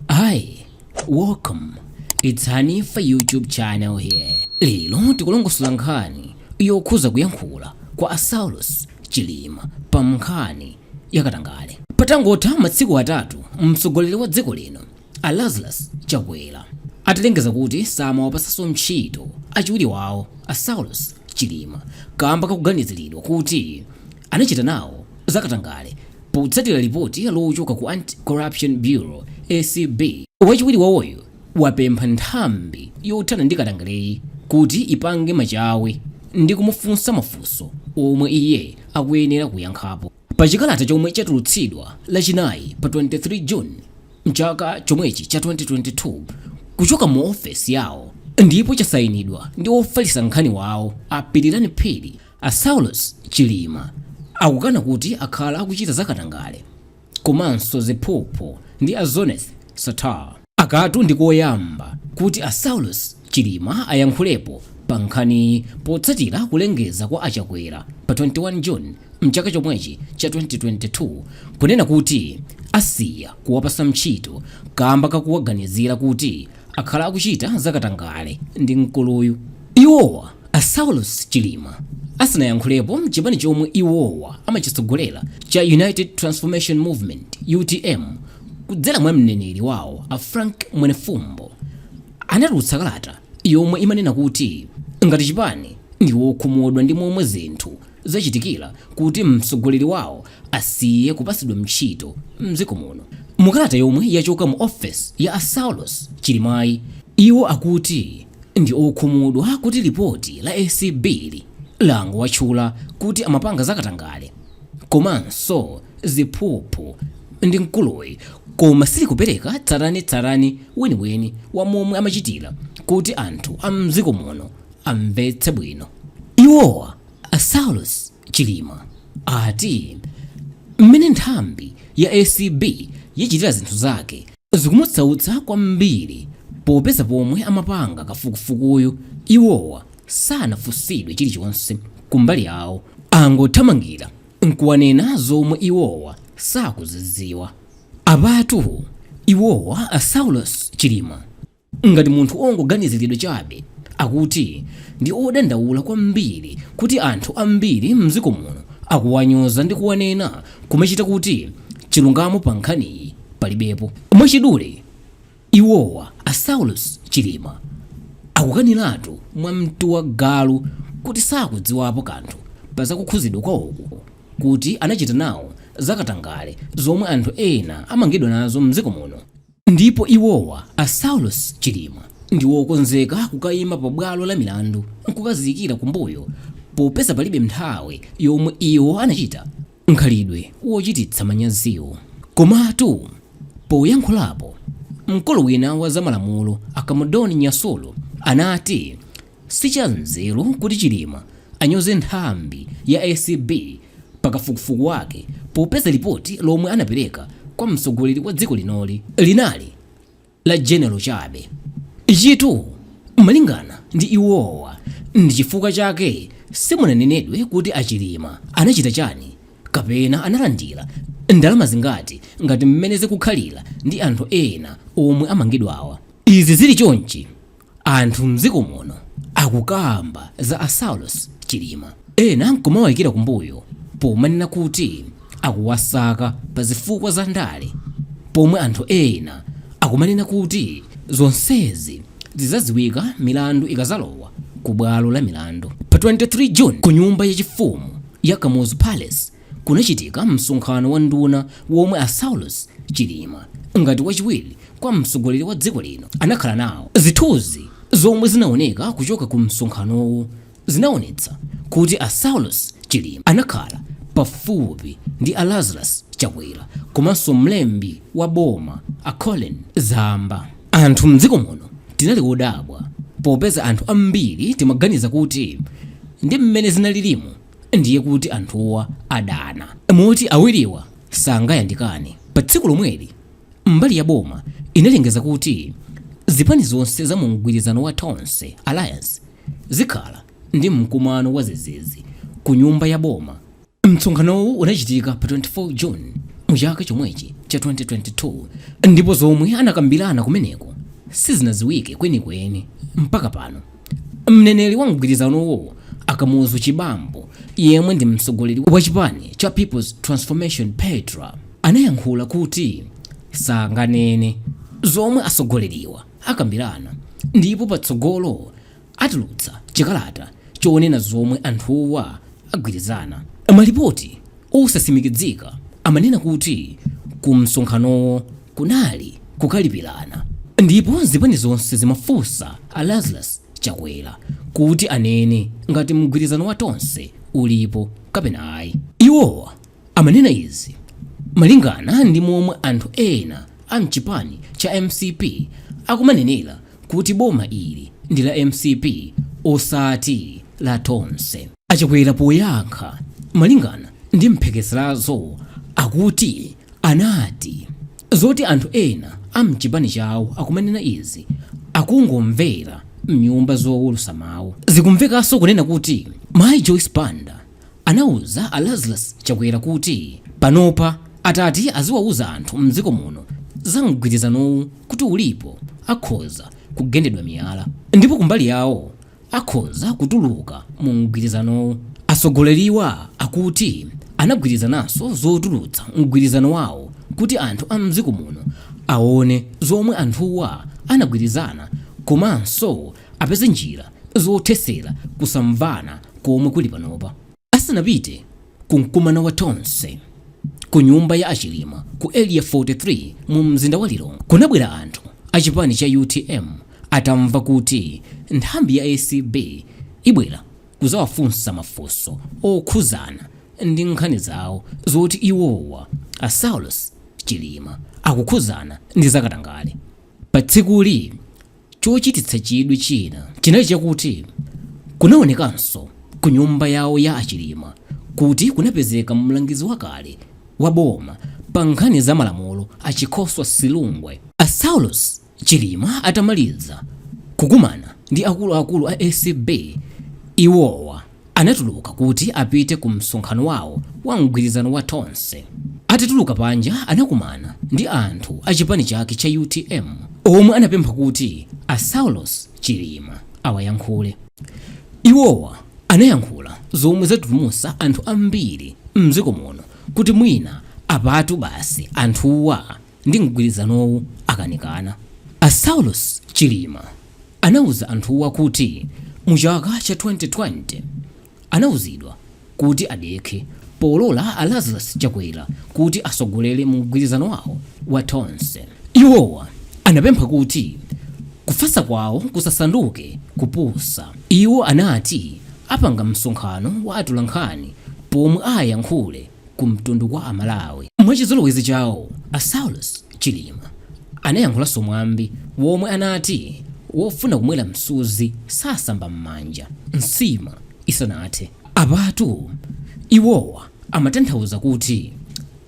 Hi, welcome. It's Hanifa YouTube channel here. Lero tikulongosola nkhani yokhudza kuyankhula kwa a Saulos Chilima pa nkhani yakatangale. Patangotha matsiku atatu mtsogoleri wa dziko lino a Lazarus Chakwera atalengeza kuti samawapatsanso ntchito achiwiri wawo a Saulos Chilima kamba kakuganiziridwa kuti anachita nawo zakatangale Potsatira lipoti lochokera ku Anti-Corruption Bureau, ACB, wachiwiri wawoyu wapempha nthambi yothana ndi katangaleyi kuti ipange machawi ndi kumufunsa mafunso omwe iye akuyenera kuyankhapo. Pa chikalata chomwe chatulutsidwa Lachinayi pa 23 June m'chaka chomwechi cha 2022 kuchoka mu ofesi yawo ndipo chasayinidwa ndi ofalitsa nkhani wawo a Pilirani Phiri, A Saulos Chilima akukana kuti akhala akuchita za katangale komanso ziphuphu ndi a Zuneth Sattar. Akatu ndi koyamba kuti a Saulos Chilima ayankhulepo pa nkhaniyi potsatira kulengeza kwa a Chakwera pa 21 June mchaka chomwechi cha 2022 kunena kuti asiya kuwapatsa ntchito kamba kakuwaganizira kuti akhala akuchita za katangale ndi mkuluyu. Iwowa A Saulos Chilima asanayankhulepo nchipani chomwe iwowa amachitsogolera cha United Transformation Movement UTM kudzera mwa mneneri wawo a Frank Mwenefumbo anatulutsa kalata yomwe imanena kuti ngati chipani ndi wokhumudwa ndi momwe zinthu zachitikira kuti mtsogoleri wawo asiye kupatsidwa ntchito mdziko muno. Mukalata yomwe yachoka mu ofesi ya a Saulos Chilimayi, iwo akuti ndi okhumudwa kuti lipoti la ACB-li langowatchula kuti amapanga zakatangale komanso ziphuphu ndi mkuluyu koma silikupereka tsatanetsatane weniweni wa momwe amachitira kuti anthu a mdziko muno amvetse bwino. Iwowa a Saulos Chilima ati mmene nthambi ya ACB yachitira zinthu zake zikumusautsa kwambiri popeza pomwe amapanga kafukufukuyu iwowa sanafunsidwe chilichonse kumbali yawo angothamangira nkuwanena zomwe iwowa sakuzidziwa apatu iwowa a Saulos Chilima Ngati munthu wongoganiziridwa chabe akuti ndi odandaula kwambiri kuti anthu ambiri m'dziko muno akuwanyoza ndi kuwanena, kumachita kuti chilungamo pa nkhaniyi palibepo. Mwachidule, iwowa, a Saulos Chilima, akukaniratu mwa mtu wa galu kuti sakudziwapo kanthu pa za kukhuzidwa kwawoku, kuti anachita nawo za katangale zomwe anthu ena amangidwa nazo m'dziko muno. Ndipo iwowa, a Saulos Chilima, ndi wokonzeka kukayima pa bwalo la milandu nkukaziyikira kumbuyo popeza palibe nthawi yomwe iwo anachita mkhalidwe wochititsa manyaziwu. Komatu poyankhulapo, mkulu wina wa za malamulo a Kamudoni Nyasulu anati Si chanzeru kuti Chilima anyoze nthambi ya acb pa kafukufuku wake popeza lipoti lomwe anapereka kwa mtsogoleri wa dziko linoli linali la general chabe. Ichitu malingana ndi iwowa ndi chifukwa chake simunanenedwe kuti a Chilima anachita chani kapena analandira ndalama zingati ngati mmene zikukhalira ndi anthu ena omwe amangidwawa. Izi zili chonchi Anthu mdziko muno akukamba za a Saulos Chilima ena nkumawaikira kumbuyo pomanena kuti akuwasaka pa zifukwa za ndale pomwe anthu ena akumanena kuti zonsezi zidzadziwika milandu ikadzalowa ku bwalo la milandu pa 23 June ku nyumba yachifumu ya Kamuzu Palace kunachitika msonkhano wa nduna womwe a Saulos Chilima ngati wachiwiri kwa mtsogoleri wa dziko lino anakhala nawo. Zithunzi zomwe zinaoneka kuchoka ku msonkhanowo zinaonetsa kuti a Saulos Chilima anakhala pafupi ndi a Lazarus Chakwera komanso mlembi wa boma a Colleen Zamba. Anthu mdziko muno tinali odabwa popeza anthu ambiri timaganiza kuti ndi mmene zinalilimo ndiye kuti anthuwa adana moti awiriwa sangayandikane. Pa tsiku lomweli, mbali ya boma inalengeza kuti zipani zonse za mu mgwirizano wa Tonse Alliance zikhala ndi mkumano wazizizi ku nyumba ya boma. Msonkhanowu unachitika pa 24 June mu chaka chomwechi cha 2022 ndipo zomwe anakambirana kumeneko sizinadziwike kwenikweni mpaka pano. mneneri wa mgwirizanowo a kamuzu chibambo yemwe ndi mtsogoleri wa chipani cha people's transformation petra anayankhula kuti sanganene zomwe atsogoleriwa akambirana ndipo patsogolo atulutsa chikalata chonena zomwe anthuwa agwirizana malipoti Osatsimikizika amanena kuti ku msonkhanowo kunali kukalipirana ndipo zipani zonse zimafunsa a Lazarus Chakwera kuti anene ngati mgwirizano wa Tonse ulipo kapena ayi. Iwowa amanena izi malingana ndi momwe anthu ena a mchipani cha mcp akumanenera kuti boma ili ndi la mcp osati la Tonse. achakwera poyankha malingana ndi mphekeserazo akuti anati zoti anthu ena amchipani chawo akumanena izi akungomvera mnyumba zowulusa mawu zikumvekanso kunena kuti mayi joyce banda anauza a lazarus chakwera kuti panopa atati aziwauza anthu mdziko muno za mgwirizanowu kuti ulipo akhoza kugendedwa miyala ndipo kumbali yawo akhoza kutuluka mu mgwirizanowu. Atsogoleriwa akuti anagwirizananso zotulutsa mgwirizano wawo kuti anthu a m'dziko muno awone zomwe anthuwa anagwirizana komanso apeze njira zothetsera kusamvana komwe kuli panopa. Asanapite ku mkumano wa Tonse ku nyumba ya a Chilima ku area 43 mu mzinda wa Lilongwe kunabwera anthu a chipani cha utm atamva kuti nthambi ya acb ibwera kuzawafunsa mafunso okhuzana ndi nkhani zawo zoti iwowa a Saulos Chilima akukhuzana ndi zakatangale pa tsikuli Chochititsa chidwi china chinali chakuti kunaonekanso ku nyumba yawo ya a Chilima kuti kunapezeka mlangizi wakale wa boma pa nkhani za malamulo a Chikosa Silungwe. A Saulos Chilima atamaliza kukumana ndi akuluakulu a acb, iwowa. Anatuluka kuti apite ku msonkhano wawo wa mgwirizano wa Tonse. Atatuluka panja anakumana ndi anthu a chipani chake cha utm omwe anapempha kuti a Saulos Chilima awayankhule. Iwowa anayankhula zomwe zatutumusa anthu ambiri mdziko muno kuti mwina apatu basi anthuwa ndi mgwirizanowu wakanika. A Saulos Chilima anauza anthuwa kuti mu chaka cha 2020 anauzidwa kuti adekhe polola a Lazarus Chakwera kuti asogolere mu mgwirizano wawo wa Tonse. Iwowa anapempha kuti kufasa kwawo kusasanduke kupusa. Iwo anati apanga msonkhano wa atolankhani pomwe ayankhule ku mtundu wa Amalawi. Mwachizolowezi chawo, a Saulos Chilima anayankhulanso mwambi womwe anati wofuna kumwera msuzi sasamba m'manja nsima isanathe. Apatu iwowa amatanthauza kuti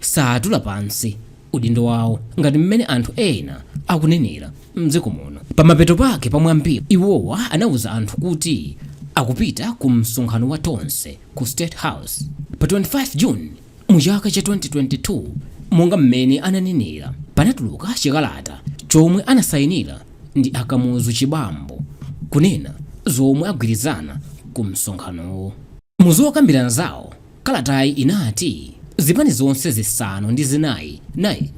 satula pansi udindo wawo ngati mmene anthu ena akunenera m'dziko muno. Pamapeto pake pa mwambiwu, iwowa anauza anthu kuti akupita ku msonkhano wa Tonse ku State House pa 25 June mu chaka cha 2022 monga mmene ananenera panatuluka chikalata chomwe anasayinira ndi a Kamuzu Chibambo kunena zomwe agwirizana ku msonkhanowo. Mu zokambirana zawo, kalatayi inati zipani zonse zisanu ndi zinayi naini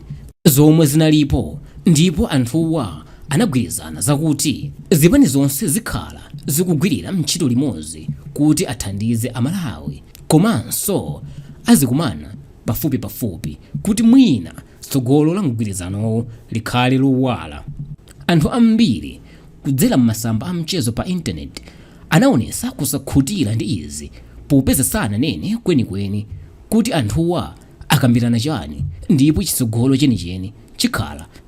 zomwe zinalipo ndipo anthuwa anagwirizana zakuti zipani zonse zikhala zikugwirira ntchito limodzi kuti athandize Amalawi komanso azikumana pafupipafupi kuti mwina tsogolo la mgwirizanowo likhale lowala. Anthu ambiri kudzera m'masamba a mchezo pa Intaneti anaonetsa kusakhutira ndi izi popeza sananene kwenikweni kuti anthuwa akambirana chani ndipo chitsogolo chenicheni chikhala